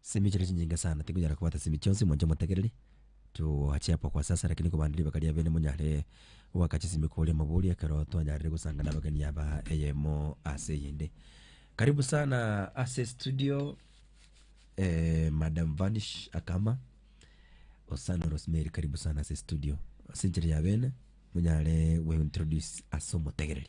Simi chire chinyinge sana tikonyara kobwata simi chionsi mwanche motegereri toachepa kwa sasa lakini kobanda ribaga ria bene monyare goaka chisimi kore amabori ekero twanyarire gosanga na abageni aba eyemo ase eyende karibu sana ase studio eh, madam vanish akama osano rosemary karibu sana ase studio ase enchera ya bene monyare gointroduce ase omotegereri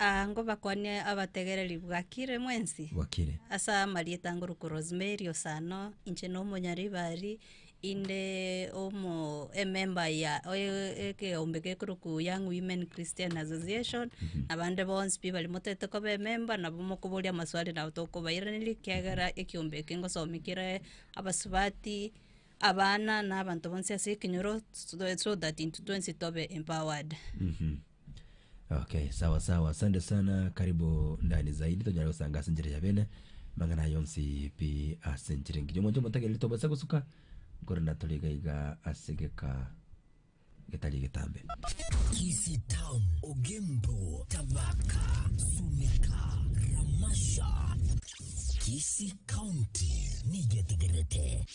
Aa ngobakwanie abategereri bwakire mwensi, Bwakire. ase amarieta ngorokwa Rosemary Osano, inche na omonyaribari inde omo ememba ya oye- ekeombe gekorokwa Young Women Christian Association, abande bonsi pi bare motaete koba ememba nabo mokoboria amaswali nabo tokobairaneria ekiagera ekeombe eke ngosomia kere abasubati, abana na abanto bonsi ase ekenyoro, so that intwe twensi tobe empowered. Okay, sawa sawa, asante sana, karibu ndani zaidi, tonyala gosanga ase enchera ya bene mang'ana aya onsi pi ase enchera engiya omonto omotagereri tobasa gosuka korenda tore iga iga ase egeka getari egetambe. Kisi Town, Ogembo, Tabaka, Sumika, Ramasha. Kisi County nigetegerete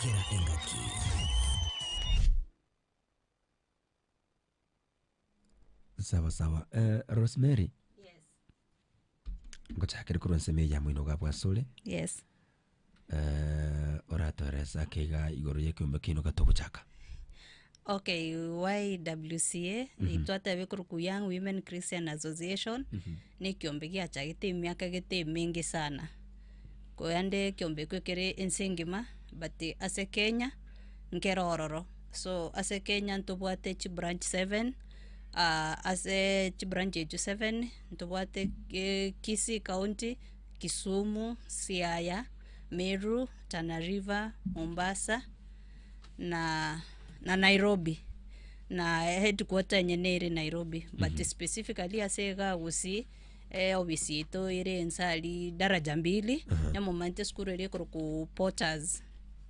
kera engaki. Sawa sawa. Eh, Rosemary, Yes. ngochakere korwa nsemo eya moino ga bwasore. Yes. Eh, oratoeresa ake iga igoro y'ekeombe keino gatogochaka. Okay, YWCA itwatebe korokwa Young Women Christian Association ne ekiombe giachagete emiaka egete emenge sana korende ekiombe ekio ekere ense engima but ase Kenya nkere ororo so ase Kenya ntobwate chibranch seven ah, ase chibranch echio seven ntobwate eh, Kisii county, Kisumu, Siaya, Meru, Tana River, Mombasa, na na Nairobi, na headquarter enye nere Nairobi but specifically ase iga gosii eofisi yaito ere ense aria daraja mbili, nyamomanyeretie esukuru eria ekorokwa Porters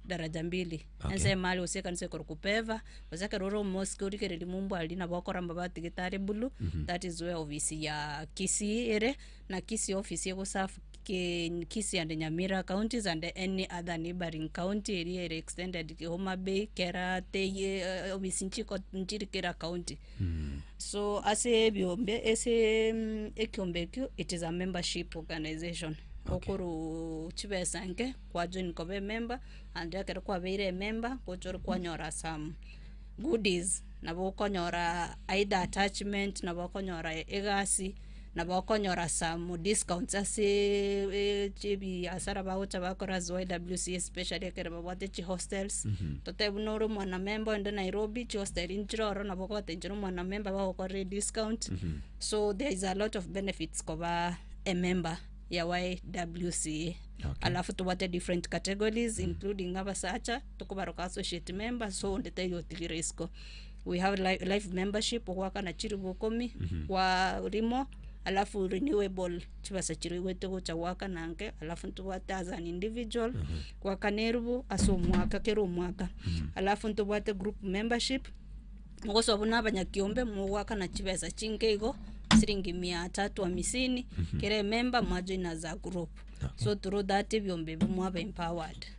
daraja mbili, ense ime aria gose ekanisa ekorokwa Peva, gose ekero ore omosike origereiri mumbu aria nabo okorama batigitari bulu, that is where ofisi ya Kisii ere, na Kisii office egoserve. Keny, Kisii and Nyamira counties and any other neighbouring county eria ere extended ki Homa Bay, Kera, Tei, uh, obisi nchiko nchiri kera county. So ase ebiombe ase mm, ekiombe ekio it is a membership organization okoru chibesa nke kwa join koba emember and ekero kwabeire emember gocha ore kwanyora some goodies nabo okonyora either attachment nabo okonyora egasi nabo okonyora some discounts ase chibiasara bagocha bakora as YWCA especially ekero babwate chihostels, totebe buna ore omwana member inde Nairobi, chihosteri nchire ororo nabo ogotenchera omwana member bagokorere discount, so there is a lot of benefits koba emember ya YWCA. Alafu tobwate different categories including abasacha, tokobaroka associate member, so onde taiga otigire isiko. we have li- life membership ogoakana chilifu ikomi, kwa rimo, alafu renewable chibesa chiria oigwete gocha goakana inke, alafu ntobwate as an individual, goakana elifu ase omwaka kera omwaka, alafu ntobwate group membership, mogosoa buna abanyakiombe mogoakana chibesa chinke igo, silingi mia tatu amisini, kera ememba mwajoina as a group, so through that ebiombe ebi mwaba empowered.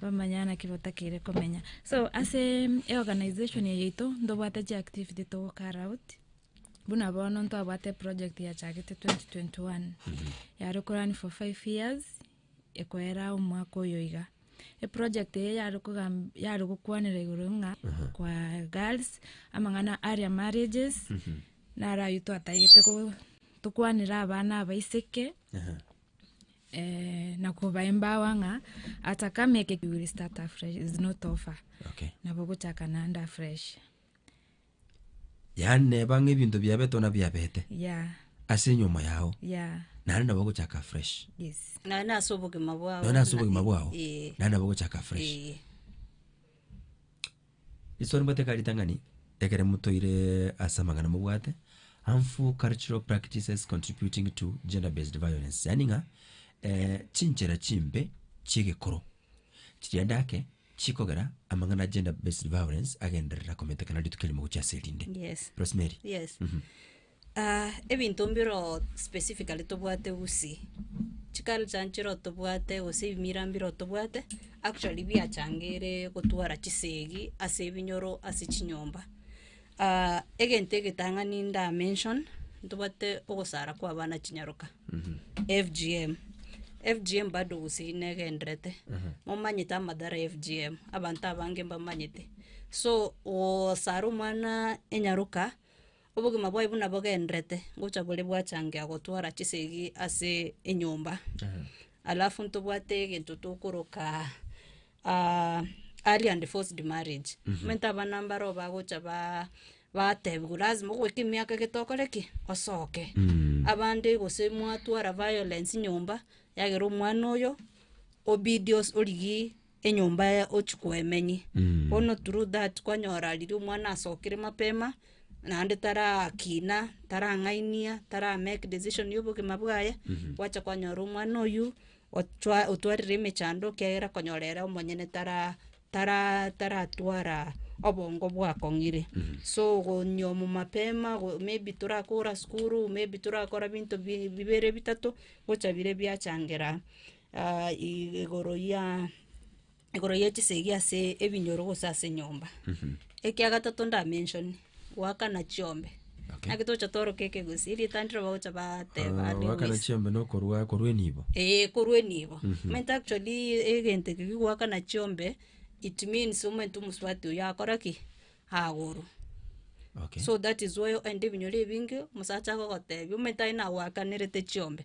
Bamanya naki batakeire komenya. So ase eorganization eye yaito ntobwate chiactivity togocarry out buna bono ntwabwate eproject yachagete 2021 mhm. yare korani for five years ekoera omwaka oyo iga eproject eye yare gokwanera igoro ng'a mhm. kwa girls amang'ana aria marriages mhm. narayo twatagete tokwanera abana abaiseke Eeh nakobae mbaoa ng'a ata kama eke you will start afresh is not over Okay. nabo ogochaka naende afresh Yaani neba ng'a ebinto biabetwe na biabete yeah ase enyomo yao yeah naende nabo ogochaka afresh. yes Naende ase obogima bwao. Naende ase obogima bwao Ee. naende nabo ogochaka afresh. Ee. Iso nimbwate ka ritang'ani ekero motoire ase amang'ana mobwate, harmful cultural practices contributing to gender based violence yaani ng'a chinchera chimbe chi'egekoro chiria endake chikogera amang'ana ya gender based violence agenderera kometekana rituko erimo gochia ase erinde. Yes. Rosemary. Yes. ebinto mbiro specifically tobwate usi, chiculture nchiro tobwate gose ebimira mbiro tobwate, actually biachangeiire gotwara chisegi ase ebinyoro ase chinyomba. egento egetang'ani nda mention, ntobwate ogosara kwa abana chinyaroka, FGM, FGM bado usi negenderete, momanyete amadara ya FGM, abanto abange mbamanyete, so gosara omwana enyaroka. Obogima bwaye buna bogenderete gocha bore bwachangia gotwara chisegi ase enyomba, alafu ntobwate egento tokoroka early and forced marriage, omonto abana mbaro bagocha ba batebiwa lazima ogoika emiaka ege tokore ki? Osoke, abande gose mwatwara violence nyomba, yagera omwana oyo obidi os- origi. enyomba yaye ochia koemenyi. Bono through that kwanyora riria omwana asokire mapema, naende tarakina, tarang'ainia, tara make decision ya obogima bwaye, gwacha kwanyora omwana oyio, ochwa otwarire emechando ekiagera okonyora ere omonyene tara tara taratwara obongo bwakong'ire. So gonyiomwa mapema, go maybe torakora sukuru, maybe torakora binto bi- bibere bitato, gocha bire biachangera. igoro ya igoro ye chisegi ase ebinyoro gose ase enyomba. Ekia gatato nda mention, goakana chiombe. Okay. Naki tocha tworoka ekegusi, ritandire bagocha bateba Ah, goakana lewis. chiombe na okorwa korwa enibo. Eeh korwa enibo. Omanyete actually egento eke gi goakana chiombe, it means omanyete omosubati oyo akora ki? Agorwa. Okay. So that is why oende ebinyoro ebinge, omosacha agogotebi, omanyete aye nagoakanerete chiombe.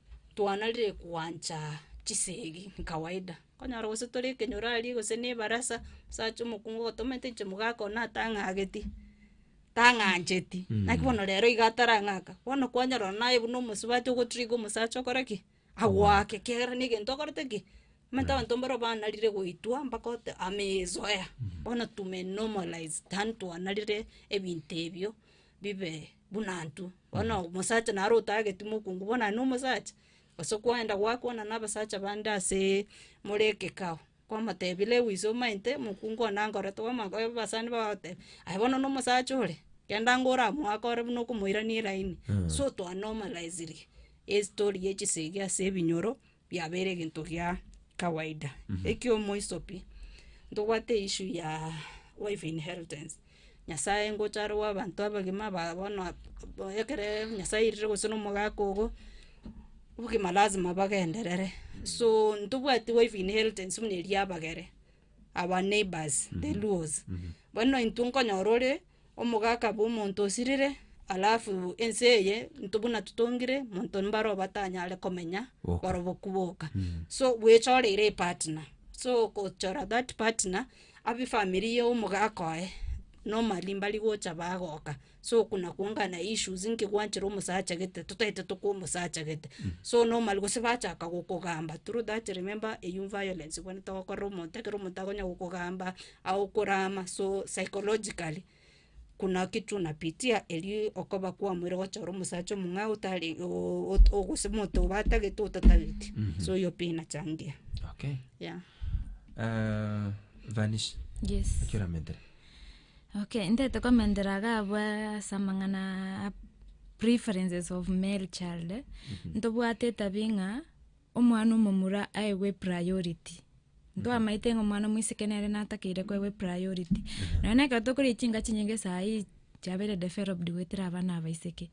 twanarire gwancha chisegi kawaida, okonyora gose tore ekenyurari gose na ebarasa, omosacha omokungu ogotomete inche mogaaka oyo natang'ageti, tang'ancheti, naki bono rero iga atarang'aka, bono kwanyora oyo naye buna omosubati ogotriga omosacha okore ki? Agwake ekiagera na egento okorete ki? Omanyete abanto mbaro banarire goitwa mpaka ote amezoea, bono tumenormalize tani twanarire ebinto ebio bibe buna intwe. Bono omosacha naro otageti mokungu bono aye nomosacha, gose kwaenda gwakwana nabasacha bande asee more ekekao, kwamotebia lewis omaete mokungu one ankore twamanya koba abasani bagoteba, aye bono nomosacha ore, kenda ingo oramoakore buna okomoirania eraini, sotoanomaraisirie, estori ya chisegi ase ebinyoro. biabeire egento gia kawaida, ekio moisopi ntobwate issue ya wife inheritance, nyasaye ngocha arogo abanto abagima ba bono ekere nyasaye airire gose na omogaka ogo, obogima lazima bagenderere, so ntobwati wife inheritance buna eria abagere, our neighbours the luos, bono intwe nkonyora ore. Omogaka bw'omonto osirire, alafu ense eye intwe buna totongire, monto mbare obatanyare komenya Boka. barobwo koboka. So bwechoreire epartner, so okochora that partner, abu efamiri ya omogaka oye, normally mbari gocha bagoka, so oko nakuangana na issues nki gwanchire omosacha gete totaete tokwa omosacha gete, so normally gose bachaka gokogamba through that remember eyou violence bwenete ogokorera omonto ekero omonto akonya gokogamba. Au korama so psychologically, kuna ki tunapitia erio okoba kwamoire gochora omosacha omong'ao otari o- o- gose omonto obatagete otatageti, so erio pi inachangia, Okay. yeah. Eh, Vanish, Yes. naki oramentere? Okay, ntete komentera iga abwo ase amang'ana a preferences of male child, ntobwate etabia ng'a Omwana omomura aegwe priority, ntwamaete ng'a omwana omosike nere natakeire koegwa epriority. Nonya na ekero tokora echi chinga chinyinge sahii chiabeire developed goetera abana abaiseke,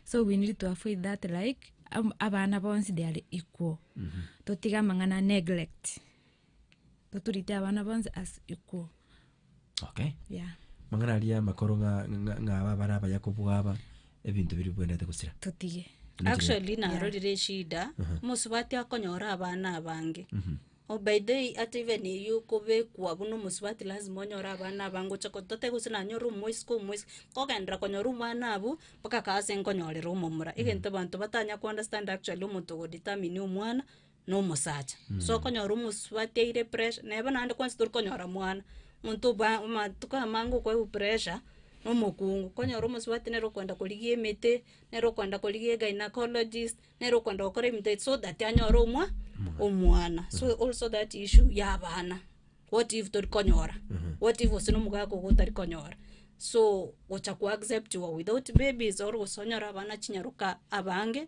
so we need to avoid that like, ab- abana bonsi they are equal, totige amang'ana neglect. Toturite abana bonsi ase ekwo. Okay. Yeah. Mang'ana aria amakoro ng'a- ng'a- ng'aba abare abaya kobua aba, ebinto biri bwenderete gosira. Totige. Nechira- actually narorire eshida mosubati akonyora abana abange oh by the way ata even eywo okobekwa buna omosubati lasima onyore abana abange oche ko tote gose nanyore omosika omosika nkogenderera konyora omwana abu mpaka kaase nkonyorera omomura egento abanto batanya ko understand actually omonto ogo determine omwana nomosacha. So okonyora omosubati aire pressure, na bono naende kwensi tori konyora mwana, omonto obo amatuko amange okwaigwa pressure, na omokungu. Okonyora omosubati nere okoenda korigia emete, nere okoenda korigia egainacologist, nere okoenda gokora ebinto ebi so that anyore omwa omwana. So also that issue ya abana, what if tori konyora, what if gose na omogaka ogo otari konyora, so gocha ko acceptiwa without babies or gose onyore abana chinyaroka abange,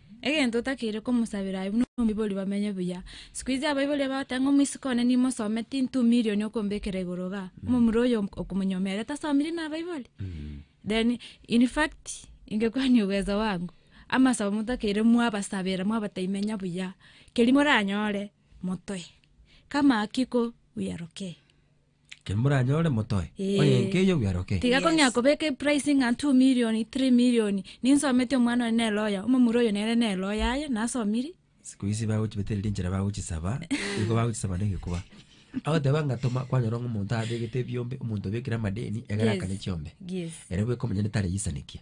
Egento otakeire komosabera aye buna omoibori bamenye buya. Siku izi abaibori bagoteba ng'a omosika one nimosome tintu milioni okombekera igoro iga. Omomura oyo okomonyomeria ere tasomirie na abaibori. Then in fact ingekwania obwezo bwango amasabo motakeire mwabasabera mwabotebia menya buya. Keria moranyore motoe. Kama hakiko we are okay. Ekero moranyore motoe, Eh. onye enke eyio bweroke. Tiga Yes. kong'ea kobeka epricing ng'a 2 million, 3 million. Ninsometi omwana one ne lawyer, omomura oyo nere ne lawyer aye, nasomiri. Siku ici bagochibeteria rinchera bagochisaba, nigo bagochisaba na egekuba. Agoteba ng'a toma, kwanyora ng'a omonto abegete ebiombe, omonto obekire amadeni, egere Yes. akane chiombe. Yes. Ere bweka omonyene tareyisanikia.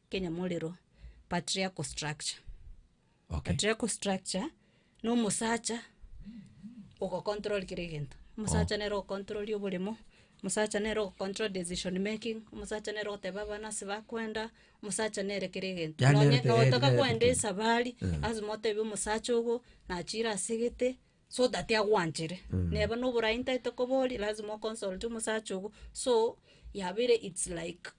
Kenyamorero, patriarchal structure. Okay. Patriarchal structure, na omosacha ogo control kera egento. Omosacha nere o control oboremo, omosacha nere o control decision making, omosacha nere ogoteba abana ase bakwenda, omosacha nere kera egento. Yaani Nonye nere- ogotoka nere- kwenda esabari, lazima otebie omosacha ogo, nachire ase egete, so that agwanchere. Neba noborai ntaete koba oria, lazima o consult omosacha ogo, so yabeire its like.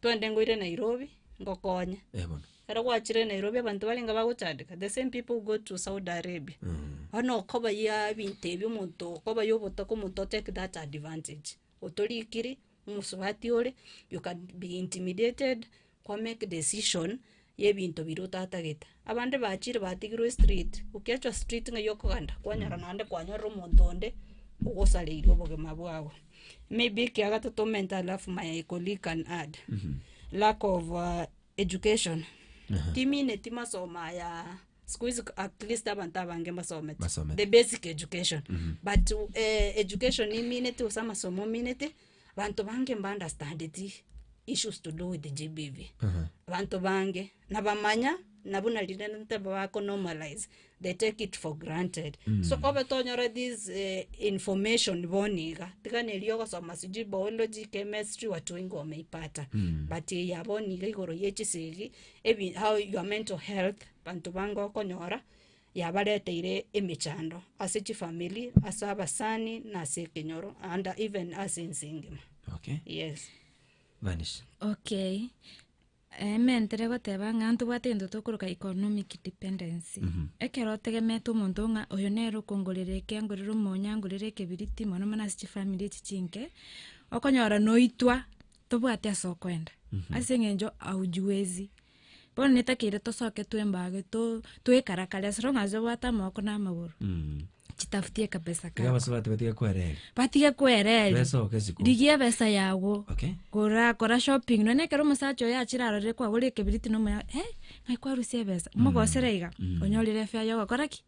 Twende ngoire Nairobi, ngokonye. Eh bono. Ekero gwachire Nairobi abanto barenge bagochandeka, the same people who go to Saudi Arabia. Mm. Bono okobayia ebinto ebi omonto okobayia obotoka omonto o take that advantage. Otorikiri, omosubati ore, you can be intimidated, kwa make decision, y'ebinto biria otatagete. Abande bachire batigirwe estriti, okiachwa striti ng'ai okogenda, kwanyora naende kwanyorire omonto onde ogosareire obogima bwao. Maybe ekia gatato mental health my colleague can add, lack of education, timineti masomo ayaa sikuizi at least abanto abange mbasomete, Mbasomete. the basic education but education imineti gose amasomo omineti. Abanto bange mbaunderstandeti issues to do with GBV. Abanto bange nabamanya na buna rire nte bakonormalize they take it for granted. So obe tonyore this eh, information boni iga tiga na erio ogosoma sijui biology, chemistry watu wengi wameipata but eya boni iga igoro ye chisegi ebi- how your mental health abanto bange okonyora Yabareteire emechando ase chifamiri, ase abasani, na ase ekenyoro, and even ase ense engima. Okay. Yes. Vanish. Okay. Eme ntere goteba ng'a ntobwate egento tokoroka economic dependency. Ekero otegemeete omonto ng'a oyo nere okongorera eke angorere omonyo angorere ekebiriti mono mono ase chifamiri echi chinke, okonyora noitwa tobwati ase okoenda. Ase eng'encho haujiwezi. Bono netakeire tosoke twembage to toekarakare as long as obwate amaboko na amagoro Mm. chitafutie kabesa Iga kako. abasore bati batiga kwereri. Batige kwereri. Besa oke siku. Rigia ebesa yago. Okay. Kora kora shopping nonye ekero omosacha oyo achire arorire kwagora ekebiriti na omoya eh ng'ai kwarusia ebesa mogosera iga onyorire efea yogokora ki?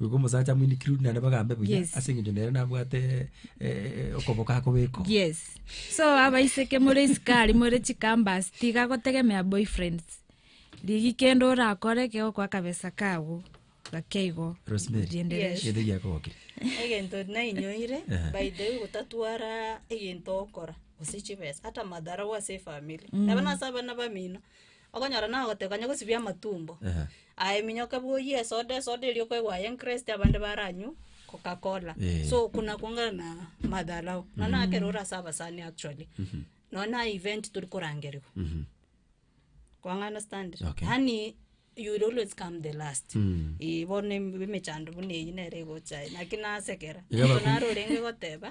Goika omosacha amoinekire orinde naende bagambe buya Yes. ase eng'encho nere nabwate eh, eh, okoboko akobekwa yes so abaiseke more isikari more chikambas tiga gotegemea boyfriends rigi kende orakore kegokwa akabesa kago gake igo Rosemary. rienderesha gete giakogokire egento nainyoire Eh. by the way gotatwara egento okora gose chibesa ata madharau ase efamiri nabo nase abana bamino Okonyora nagoteba kanya gosibia amatumbo. Aye minyoka bwoyie esoda, esoda eria okoegwa aye enkrest abande baranywe coca cola. So okwo nakwo ng'a na madharau. Nonye na ekero ore ase abasani actually. Nonye na event tori korangerigwa. Kwa ng'a understand? Yaani you will always come the last. Eeh bono em- emechando buna eyio nere egocha aye. Naki nasekera. Naro orenge goteba.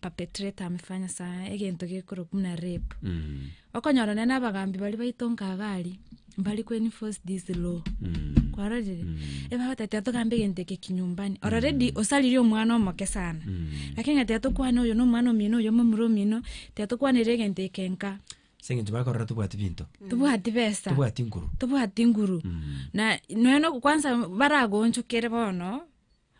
perpetrate amefanya sana egento gekorokwa buna rape Mm. okonyora nonye na abagambi baria baito nkaga aria mbari ko enforce this law Mm. kwarorire eba bateba tiga togambe egento eke kinyumbani already osaririe omwana omoke sana Mm. lakini ng'a tiga tokwane oyo na omwana omino oyo momura omino tiga tokwanera egento eke nka Ase eng'encho bakorora tobwati binto tobwati besa tobwati nkuru tobwati nguru Mm. na nonya no kwansa baragonchokere bono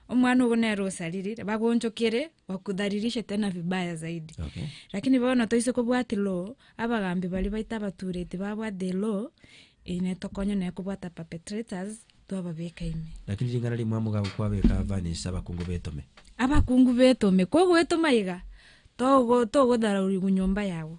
omwana ogo nere osariri bagonchokere bakudhalilishe tena vibaya zaidi Okay. lakini bono toise kobwati law abagambi baria baito abatureti babwate law eye netokonya naye kobwata perpetrators twababeka ime Lakini ring'ana rimwe amo gago kwabeka vanish abakungu betome. abakungu betome kogoetoma iga togo togodharaurigwa nyomba yago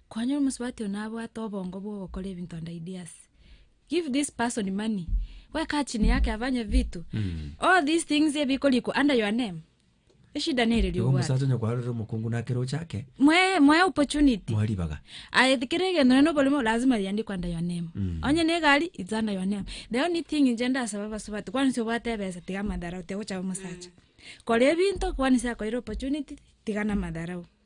Kwanyora omosubati one abwate obongo bwogokora ebinto and ideas. Give this person money. We kaa chini yake afanye vitu. All these things ebikorikwa under your name. Eshida nere Igo riobwate. omosacha onye kwarorire omokungu nakere ochake Mwae mwae opportunity. moe ribaga. Aye kero egento nonye noboremo lazima riandikwe under your name. Onye ne egari it's under your name. The only thing inche ndasaba abasubati kwani nse obwate ebesa tiga amadharau tiga gocha omosacha. Kora ebinto kwani nse akoeire opportunity tiga na amadharau.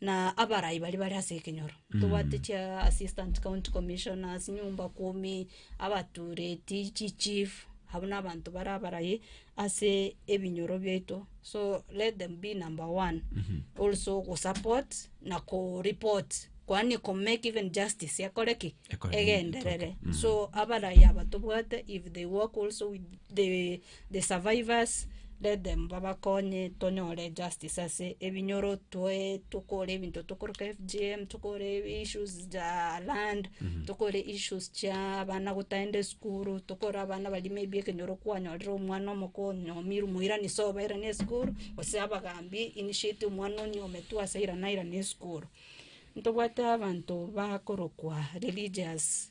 Na abarai baria bare ase ekenyoro, ntobwate chiassistant county commissioners, nyumba kumi, abatureti, chichief, abwo nabanto bare abarai ase ebinyoro biaito, so let them be number one also go support na ko report kwani ko make even justice ekore ki? Ekore egenderere. So abarai aba tobwate if they work also with the. The survivors, let them babakonye tonyore justice ase ebinyoro twae tokore ebinto tokoroka FGM, tokore issues za land, tokore issues chia abana gotagenda esukuru, tokore abana baria maybe ekenyoro kwanyorire omwana omoko onyomiru moirani so bairane esukuru, gose abagambi initiate omwana onyometwe ase irana airane esukuru. Ntobwate abanto bakorokwa religious.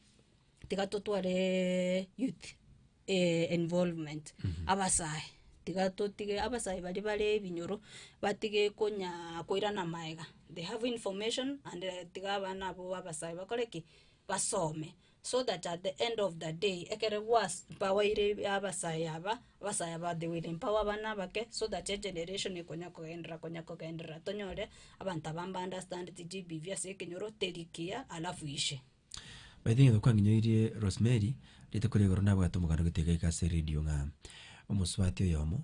tiga totware youth involvement, abasae tiga totige abasae baria bare ebinyoro, batige konya koirana amaega, they have information and tiga abana abwo abasae bakore ki, basome, so that at the end of the day ekere gwas mpawaire ebe abasae aba, abasae aba they will empower abana abake so that egeneration ekonya kogenderera konya kogenderera tonyore abanto aba mbaunderstandeti GBV ase ekenyoro teri kiya alafu ishe. Baito ng'ina kwangenyoirie Rosemary, rituko ria igoro nabwate omoganda ogotiga eke ase eredio ng'a omosubati oyomo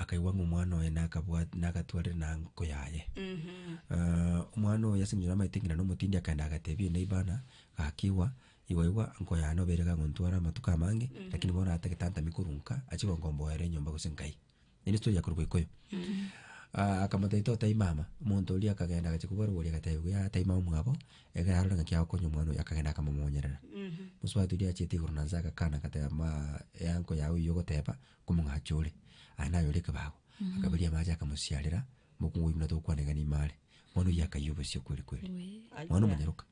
akaigwa ng'a omwana oye nakabwa nagatwarire na anko yaye. omwana oyo ase eng'encho namaete ng'ina na omotindi akaenda agatebia eneiba ana, gakigwa, igwa igwa anko yane obeire kagontwara amatuko amange, lakini bono atagete antami korwa nka, achie gonkomboera enyomba gose nkai. Naende toria korwa Gĩkũyũ. Ah, akamotaita otai mama, omonto oria akagenda agachia kobua rogori agateba buya tai mama omwabo, egere arore ng'aki agokonya omwana oyo, akagenda akamomonyerera. Mosubati oria achiete igoro na nse agakana agateba ma eanko yago eyio ogoteba, nkomong'acha ore, aye naye ore ekebago. Akaberia amache akamosiarera, mokungu oyio buna togokwana iga nime are. Mwana oyio akayia obosio kweri kweri. Mwana omonyaroka.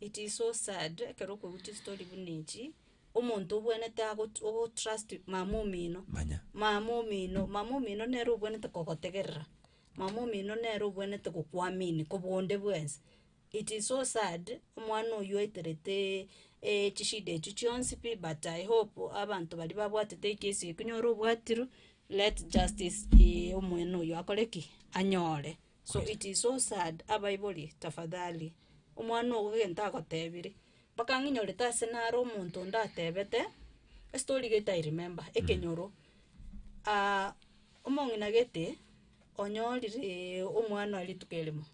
It is so sad ekero okorutia story buna echi, omonto obwenerete ago ogo trust mama omino. Manya. Mama omino, mama omino nere obwenerete kogotegerera, mama omino nere obwenerete kokwaminia koba onde bwensi. It is so sad, omwana oywo aitereteee echishida echio chionsi pi but I hope abanto baria babwatete ekesi eye konya ore obwatiru, let justice be omwene oywo akore ki? Anyore. So it is so sad abaibori tafadhali omwana ogo egento agotebiri mpaka ng'inyorete ase naro omonto onde atebete estory gete i remember ekenyoro omong'ina gete onyorire omwana oye rituko erimo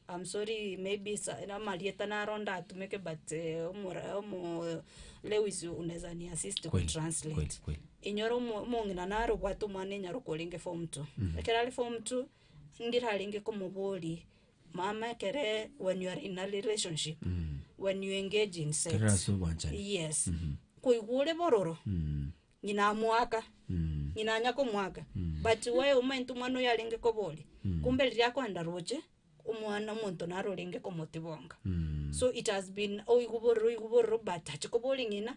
am sorry maybe sa amarieta naro ndatumeke but omora omoo Lewis unaweza ni assist ku Kweli, translate kweli, kweli. inyora omo- omong'ina naro obwate omwana enyarokwo orenge form two ekero are form two. Ndirarenge komoboria, mama ekere when you are in a relationship when you engage in sex Ekero ase ogwanchani. yes koigwa ore bororo Mm. ng'ina amoaka Mm. ng'ina anya komoaka but we omanyete omwana oyo arenge koboria kumbe riria akoenda roche omwana omonto naro orenge komotibonga Mm. so it has been oigwa bororo oigwa bororo but achi koboria ng'ina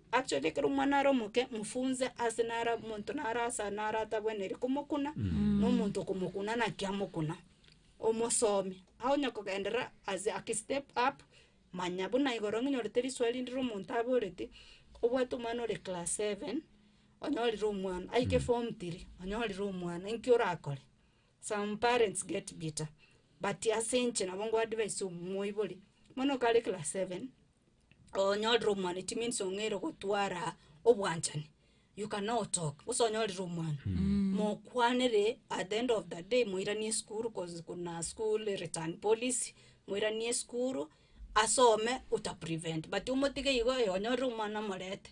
Actually ekero omwana are omoke mofunze ase nara omonto nara ase aa nara atabwenereti komokuna, na omonto okomokuna naki amokuna, omosomie. Aye onya kogenderera as a ki step up, manya buna igoro ng'a onyorete risoa rinde rire omonto aboreti, obwate omwana ore class seven, onyorire omwana aike form three, onyorire omwana, inki orakore? Some parents get bitter, but ase inche nabo nkoa advice omoibori, omwana oka are class seven, onyorire omwana it means ong'eire gotwara obwanchani you can now talk gose onyorire omwana mokwanere at the end of the day moiranie esukuru cause kuna school return policy moiranie esukuru asome otaprevent but omotige igo ee onyorire omwana omorete.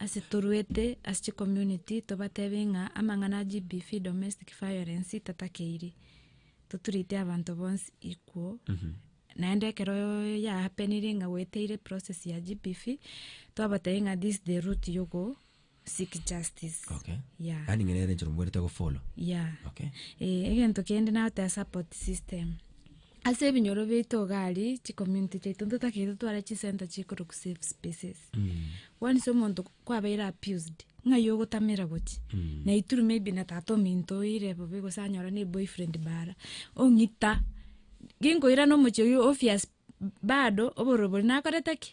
Ase toruete ase chi community tobatebie ng'a amang'ana a GBV domestic violence tatakeiri, totreate abanto bonsi equal, naende ekero ya happeniri ng'a gweteire process ya GBV twabatebi ng'a this the route you go seek justice. Okay. Yeah. Yaani ng'ina ere enchera mobwerete gofollow. Yeah. Okay. Eh, egento kende nagoteba support system. Ase ebinyoro biaito iga aria, chicommunity chiaito ntotakeire totware chisenta chikorokwa safe spaces. Kwanisa omonto kwabeire abused, ng'ai ogotamera gochia, na ituru maybe na tata ominto oire bobe gose anyora na eboyfriend bara, ong'ita, ginkoirana omochie oyio obvious bado obororo boria nakorete ki?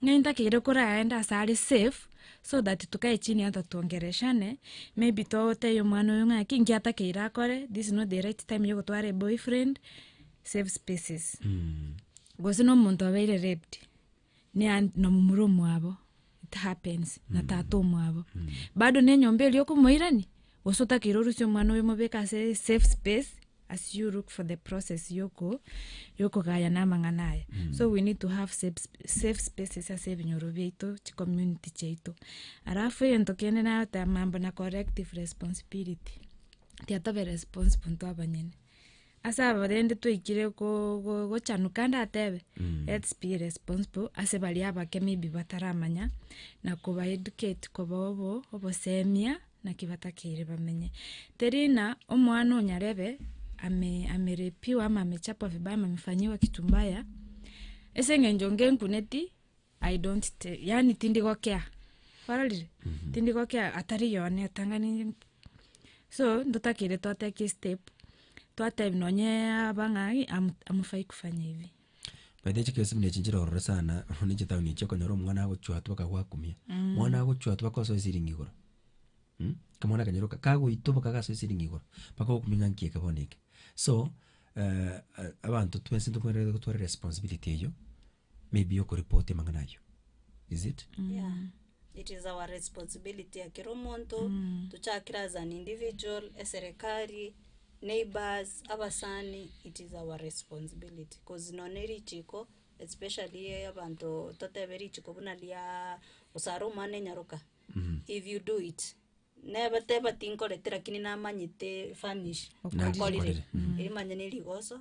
Ng'ai ntakeire koraende ase are safe, so that tokae chini ata tuongereshane, maybe totebie omwana oyo ng'aki nki atakeire akore, this is not the right time yogotwara eboyfriend, save spaces. Gose na omonto abeire raped, na nomomura omwabo it happens na mm. tata omwabo mm. bado ne nyomba eri okomoirani gose otakire orusi omwana oyo omobeke ase safe space as you look for the process yoko yokogaya na amang'ana aya mm. so we need to have safe, safe spaces ase ebinyoro biaito chicommunity chiaito alafu egento kende nagoteba mambo na corrective responsibility tiatobe responsible intwe abanyene Ase aba rende twaikire go- go- gochanuka ndatebe, let's be responsible ase baria abake maybe bataramanya, na koba educate koba obo obosemia naki batakeire bamenye. Teri ng'a omwana onyarebe ame amerepiwa ama amechapwa vibaya ama amefanyiwa kitu mbaya, ase eng'encho ngenkuneti. I don't te, yaani tindi gokea, ororire? Tindi gokea atari yone otang'ani so ntotakeire twateki step, twatebi nonye aba ng'ai am- amufai kufanya hivi. By the way chikesimi na echi nchirorore sana buna chitown echi okonyora omwana agochwa atu bakagwakumia, mwana agochwa atu bakosoa esiringi igoro mm, kamwana kanyaroka kagoitwa boka gasoe esiringi igoro, bakogokumia ng'a nki eke bono eke. So abanto twensi ntokwenerete gotwara eresponsibility eyio may be okorepoti amang'ana ayio, is it? Yeah, it is our responsibility ekero omonto, tochakire as an individual, eserekari, neighbours, abasani, it is our responsibility cause nonya ne richiko especially e- abanto totebe richiko buna riaaa osare omwana enyaroka, if you do it, neba teba tinkorete lakini namanyete fanish Okorire. nkorire, erio manya ne rigoso.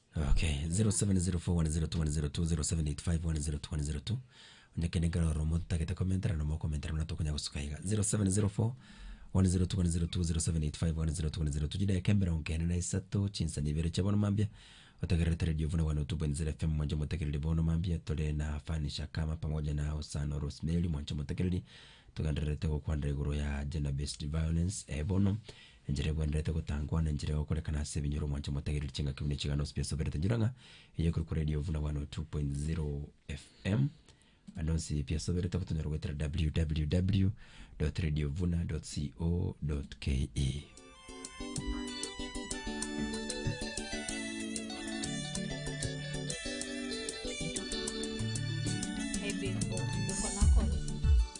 Okay, 0704102102, 0785102102, onye kende nkare ororo motagete komentera na mokomentera buna tokonya gosuka iga, 0704102102, 0785102102, chideka emerongo ene na isato, chinsemo ibere chia bono mambia, otagererete radio 102.0 FM mwancha omotegereri bono mambia, tore na Fani Shakama pamoja na Hosana Rosemary mwancha omotegereri, togendererete gokwanera igoro ya Gender Based Violence, bono Enchera egwenerete gotangwa, na enchera y'ogokorekana ase ebinyoro mwanche motagereri chingaki buna echigano ase biasoberete enchera ng'a eye ekorokwa Radio Vuna 102.0 FM ande onsi biasoberete igo tonyara goetera www.radiovuna.co.ke.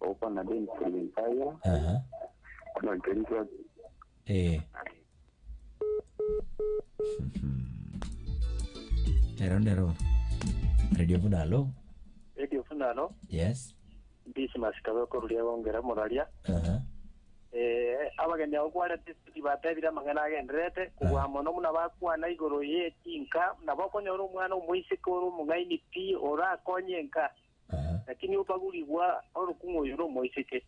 Okwana Denis Rwenzaya, Aha. Nantoni Twaki. Eh. Nero nero. Radio Buna alo. Radio Funalo, Yes. Mbisi Masikabe koruria gongera moraria. Aha. Eh, abageni abo kware tisiti batebire amang'ana agenderete kugwa mono muna bakwana igoro ye chinka na bokonyora omwana omoiseke ore omong'aini pi orakonye enka Lakini obagurigwa orokung'u oyo nomoiseke.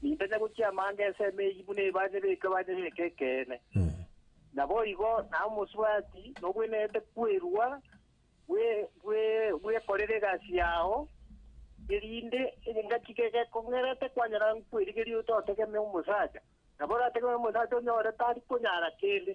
Nintanya gochia amanga ensemo eyio buna ebanye beke banye beke ekeene. Naboigo naye omosubati nobwenerete kwerua bwe bwe bwekorera egasi yao, erinde engaki gegekong'erete kwanyora nkwerigeria ototegemea omosacha, nabo orategemee omosacha onyore tari konyara kende.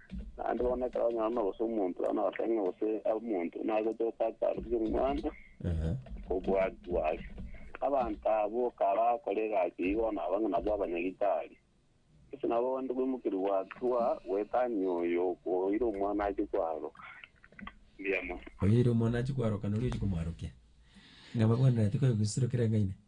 Naende bono ekero omwana gose omonto bono agoteba ng'a gose omonto nagochoka akarusia omwana Ehe. kobua Gwashi. Abanto abwo kabakora egasi eyio bono aba ng'a nabwo abanyagitari. Gose nabo bonde gwemokeria gwatua gwetania oyo okoira omwana ache kwaroka. Mbuya mono. Oyoeire omwana achi kwaroka nori ochi komwarokia. Ng'a babwenerete koegusirokera eng'aine.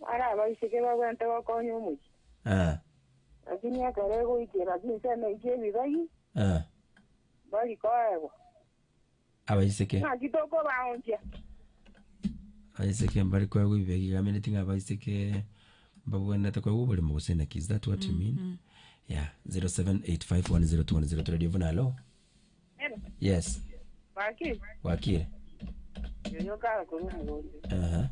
Bare abaiseke bagwente gokonya omochie, Eh, lakini ekero egoikera chinsemo echi chi'ebibagi, eh, mbari koegwa. abaiseke Naki tokobaonchia? abaiseke mbari koegwa ebibegi iga ameneti ng'a abaiseke mbabwenerete koegwa oborimo gose naki is that what you mean? Yeah, 0785102002 Radio buna alo. Yes. Baki. Wakire. Yoyo kara kuri omogonte. Aha.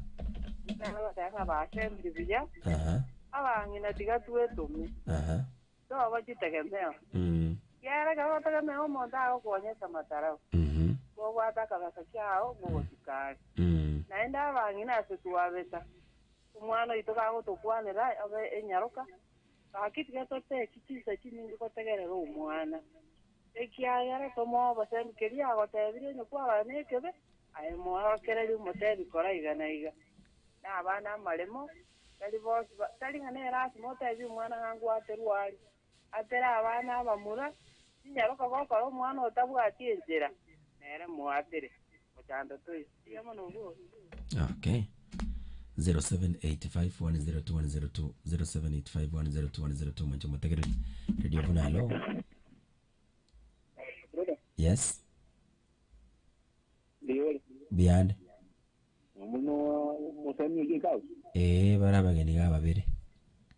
Nabo batanga basembiri buya. Aha. Abang'ina tiga twetome. Aha. Toba chitegemeo. Mm. Kiara ekero otegemea omonto agokonya ase amatarao. Mhm. Bobwate akabesa kiao mogochika are. Mm. Naende abang'ina ase twabeta. Omwana oito gagotokwanera abe enyaroka. Baki tiga totechi chinsa chinyinge gotegerera omwana. Ekiagera tomoa obosembi keria agotebirie onye kwarora nekebi, aye moorokererie omotebi kora iga na iga. Na abana amaremo, tari bonsi ba, tari ng'a ne lasima otebie omwana ng'a ngwa aterwe aria. Atere abana abamura, tinyaroka gokora omwana otabwati enchera, nere moatere. Okay. 0785102102 0785102102 mwanche omotegereri radio buna hello yes biyande Omuno musani oyo kau. ee bare abageni ga babere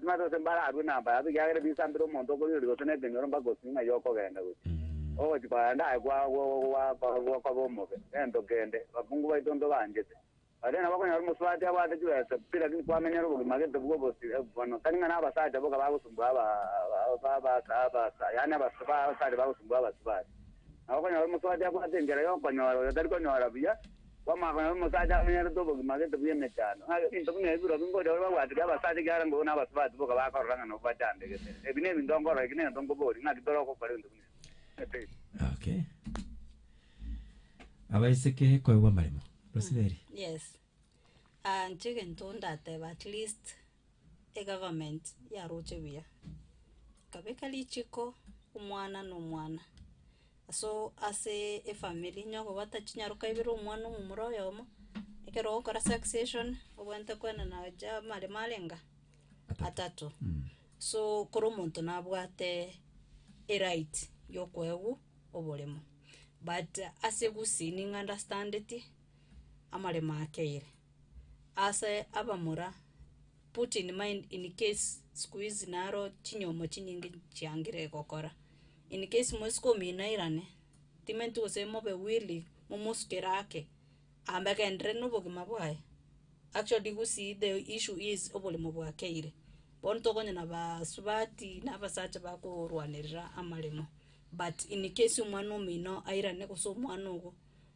Timanyete gose mbararue na mbayato, ekiagera ebisambera omonto okorigereria gose nekenyoro mpaka osinye ng'a igo okogenda gochia. Ogochia kogenda aye kwa gokoba omobe, gento kende, abakungu baito ntobaanchete. Gose nabo okonyora omosubati abwate chibesa pi, lakini kwamenyera obogima gete bwo obosio eh, bono tari ng'a nabasacha boka bagosumbua abasubati, yaani abasubati bagosumbua abasubati. Nabo okonyora omosubati abwate enchera yokonyora oyo tari konyora buya, Kw'amang'ana y'omosacha amenyerete obogima gete bw'emechando, ng'a ebinto buna ebi birobio ngocha bare babwatire abasacha ekiagera mbobe n'abasubati boka bakorora ng'a nabwo bachandegete. Ebi n'ebinto nkorora, eki nento nkoboria, ng'aki tore ogokora ebinto buna ebi? Totebe. Okay. Abaiseke koegwa amaremo. Rosemary. Yes. Ah, inche egento ndateba at least egovernment yaroche buya, ekabeka richiko omwana na omwana aso ase efamiri onye okobwata chinyaroka ibere omwana omomura oyomo, ekero ogokora succession obwenerete koenana gocha amaremo arenga, atato, so kera omonto nabwate eright yokoegwa oboremo, but ase gusii nigo andastandeti amaremo akeire. Ase abamura, put in mind in case siku hizi naro chinyomo chinyinge chiangire gokora, in case mwesiko ominairane, timenti gose mobe willing momosukere ake, amba agenderere na obogima bwaye, actually do you see the issue is oboremo bwa keire, bono tokonya na basubati na abasacha bakorwanerera amaremo, but in case omwana omino airane gose omwana ogo.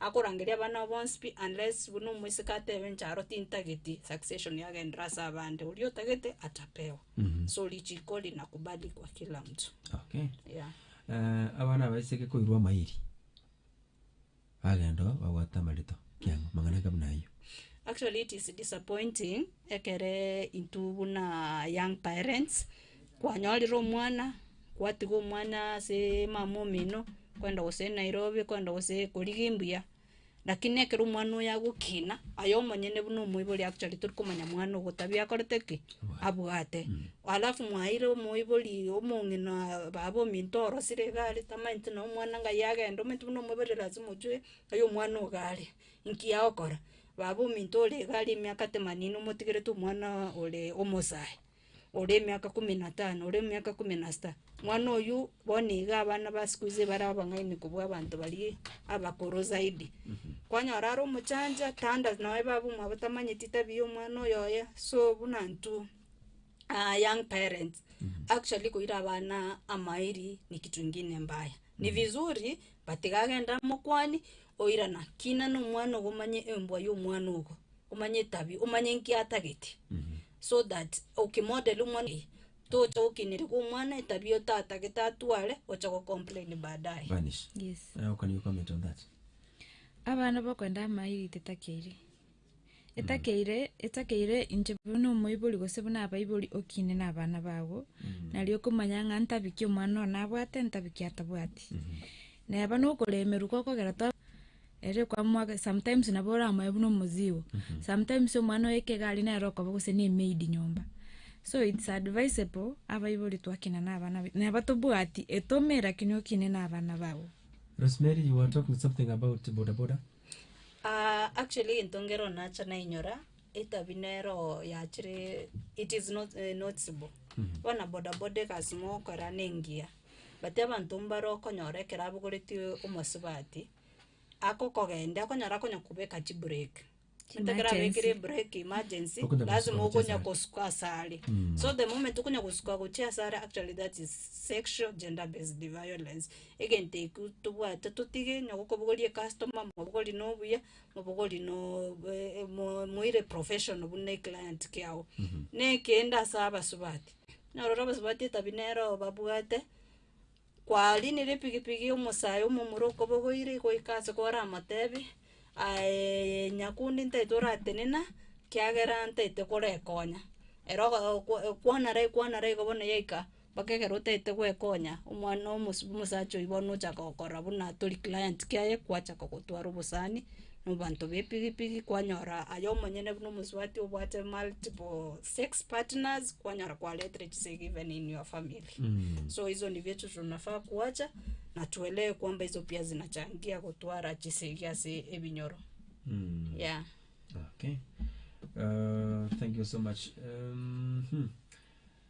Akorangeria abana abo bonsi pi, unless buna omoiseke atebe inche aro tintageti, succession yagenderera ase abande, oria otagete atapewa. So richiko linakubalikwa kila mtu. Okay. Yeah. Eh, abana abaiseke koirwa amairi bagenda oo babwate amarito kiang'o mang'ana inga buna ayio Actually it is disappointing ekere intwe buna young parents Kwanyorire omwana, kwatiga omwana aseee mama omino, kwenda gose nairobi, kwenda gose korigia embuya, rakini ekero omwana oye agokina, aye omonyene buna omoibori actually tori komanya mwana ogo otabi akorete ki? Abwate. Alafu mwaeire omoibori omong'ina baba ominto orosire iga are tamanyeti nonye omwana ng'ai agenda, omanyete buna omoibori lazima ochoe ng'ai omwana ogo are, nki agokora, baba ominto ore iga are emiaka temanini omotigerete omwana oreee omosae. ore emiaka ikomi na tano, ore emiaka ikomi na sita, mwana oyio bono nigo abana ba siku hizi bare abang'aini kobua abanto baria abakoro zaidi. Kwanyora are omochancha, tanda nonye babu mwabo tamanyeti tabia ya omwana oyo oye, so buna intwe aa young parents, actually koira abana amairi ni kitu ingine mbaya. Ni vizuri. Batiga agende amo okwani, oirana, kina nomwana ogo omanye embwa yomwana ogo, omanye etabi, omanye nki atagete. So that oki model omwana eye, tocha gokineria omwana etabia otatagete atware oche go complain baadaye. Vanish. Yes. Eh, can you comment on that? Abana bakwenda amairi tetaki airi. Etakeire, etakeire inche buna omoibori gose buna abaibori okiine nabana bago, nario okomanya ng'a ntabiki omwana oo nabwate, ntabiki atabwati. Neba nokoremerwa ko okogera twa ere okwamwaka sometimes nabo oramoe buna omozigo, sometimes omwana oyo ekegari nere okoba gose ne emaid nyomba. So it's advisable abaibori twakina nabana baito, neba tobwati etome lakini okine nabana bago. Rosemary you were talking something about bodaboda. Aa actually egento nkeroo nacha nainyora, etabi nero yachire it is not noticeable bono boda boda egasi mogokora na engiya, but abanto mbare okonyora ekero abogoreti omosubati, agokogendia okonyora akonya kobeka chibureki ginto ekero abekire ebureki emergency Okonya gosuka lasima gochia okonya asare. gosuka asare so the moment okonya gosuka gochia asare actually that is sexual gender based violence Egento ekio tobwate totige onye gokobogoria ecustomer mobogori na obuya, mobogori na moire professional buna eclient kiago. Na ekende ase abasubati, nyorore abasubati etabia nere oo babwate, kwarinire epigipigi omosayo omomura okobogoire goika ase koramotebie aye nyakundi ntaete oratenena, kiagera ntaete korekonya. Ero ogo okwa ekwana rai ekwana rai igo bono yaika. Mpaka ekero otaete gwekonya, omwana omos- omosacha oyio bono ochaka gokora buna tori client kiaye, gwachaka gotwara obosani, na abanto ba epigipigi, kwanyora aye omonyene buna omosubati obwate multiple sex partners, kwanyora kwaretire chisegi even in your family. So hizo ndivyo vitu tunafaa kuacha, na tuelewe kwamba hizo pia zinachangia gotwara chisegi ase ebinyoro, yeah. Okay. Uh, thank you so much. Um, hmm.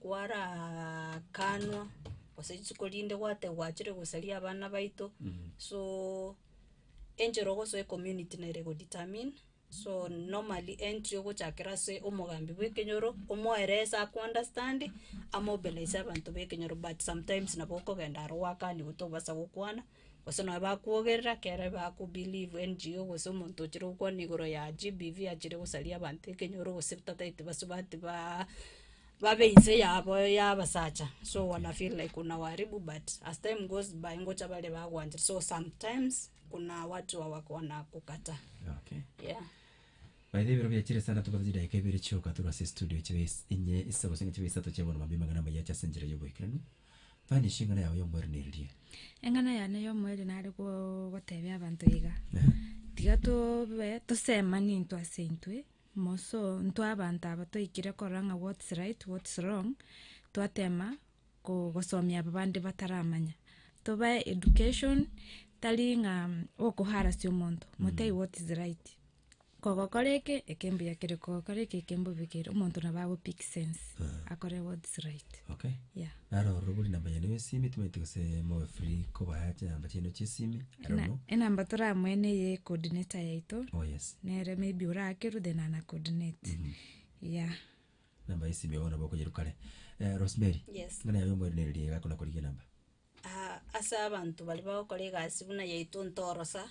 kwaraakanwa, gose rituko rinde gwate gwachire gosaria abana baito, so enchera ogosoa ecommunity nere ego determine, so normally entry ogochakera ase omogambi bwa ekenyoro, omoerese aku understand, amobilise abanto ba ekenyoro but sometimes nabo okogenda aro gwakaniwe tobasa gokwana. Gose nonya bakwogerera ekero bakobilivu NGO gose omonto ochire gokwana igoro ya GBV achire gosaria abanto ekenyoro gose tataete basubati baa babe inse yabo ya abasacha so wana feel like unawaribu but as time goes by ngocha bare bagwanchire so sometimes kuna watu wa wako wanakukataa Okay. yeah. Baitha ebero biachire sana tobate chidaeka ibere chioka tore ase estudio chibe is- enye isaba gose ng'a chibe isato chia bono mambia amang'ana amaya ache ase enchera y'oboikeranu. Mani ase eng'ana yao y'omoerio neririe? Eng'ana yane y'omoerio nare go- gotebia abanto iga, Ehe. tiga tobe tosemani intwe ase intwe, moreso intwe abanto aba toikire korora ng'a what's right, what's wrong, twatema ko- gosomia aba bande bataramanya. Tobae education, tari ng'a okoharasia omonto, motebie what is right. kogokora eke eke mbuya kere kogokora eke eke mbobe kere omonto nabo ago pick sense Ah. akore what is right okay yeah naro ororo bori namba yaino ya esimi tomaete gose mobe free kobaya chinamba chiaino chia esimi I don't Ena- know. enamba toramoe neye coordinator yaito oh yes nere maybe orakerwe then ana coordinate yeah namba ya esimi bono nabo okonyeru kare Eh, rosemary Yes. ng'ana yaye omoerenereria iga akona korigia enamba Ah, ase abanto baria bagokora egasi buna yaito ntorosa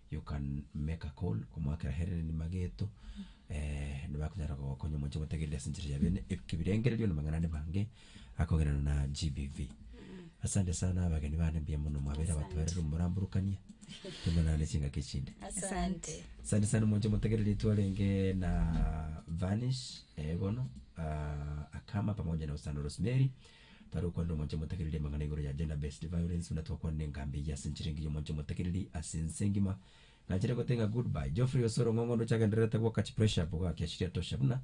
You can make a call omoakera Hellen Mageto nibakonyara gokonya omonche omotegereri ase enchera ya bene ekebirengererio na amang'ana ande amange akogenderana na GBV. Asante sana abageni bane mbuya mono mwabeire abatwarire omoramborokania tomonana ase chingaki echinde. Asante. Asante sana omonche omotegereri twarenge na Vanish bono Akama pamoja na Osano Rosemary. Tari okwana nomwancha omotakereri amang'ana igoro ya gender based violence buna twakwanire engambi eye ase enchera engiya omwancha omotakereri ase ense engima nganchete gotenga good bye Geoffrey Osoro ng'ong'o onde ochagendererete gwoka chi pressure up ogaki asiri atosha buna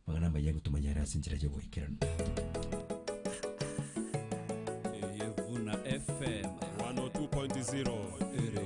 amang'ana amaya igo tomanyare ase enchera yogoikeranu. Eye buna FM 102.0 ere